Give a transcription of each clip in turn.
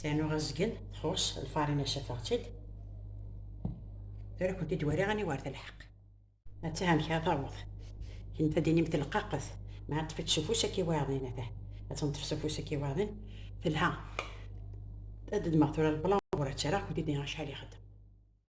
Sɛnu ɣazgen, txuṣ lfarina safeɣ-tt-id. Tura kunt-id wariɣ ani war telḥeq. Atta amek ara taweḍ. Kent ad d-inim telqaqet, ma ṭṭef-itt s ufus akka i wayeḍin, ata ad tenṭef s ufus akka i wayeḍin, telha. Ad d-ddmeɣ tura lblanc ur ad tt-rreɣ, kunt-id-nniɣ acḥal ixeddem.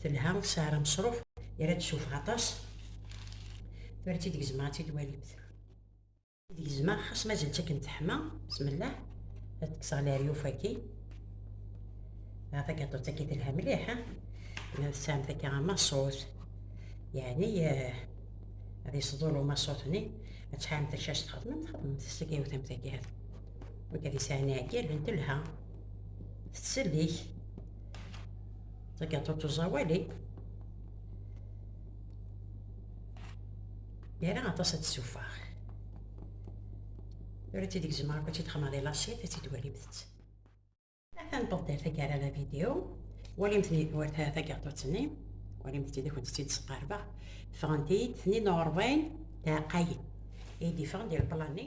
Telha, tesɛer ameṣruf, yerra-d s ufeɣ aṭas. Tura ad tt-id gezmeɣ, ad tt-id-walimt. Id gezmeɣ, xas mazal-tt akken teḥma, besmellah. Ad kkseɣ leryuf-agi. Ah, tagaṭut-agi telha mliḥ, ha? Ma tesɛamt akka amaṣut, yeɛni eh, ad yesḍul umaṣut-nni, ad tesɛamt acu as txedmemt, xedmemt s tagayewt-am-tagi, ha? Nekk ad yesɛan iɛeggalen, telha, tettsellik. tagaṭut uẓawali yerra aṭas ad tessufeɣ tura tid gezmeɣ akk ad tt-id-xemmeɣ di lasit ad tt-id-walimt atan tebdiḍ tagara la vidéo walimt-ni war tagaṭut-nni walimt-id akent tt-id-sqarbeɣ ffɣent-iyi-d tnin uɣerbayen taɛqayin i d-iffɣen di lplan-nni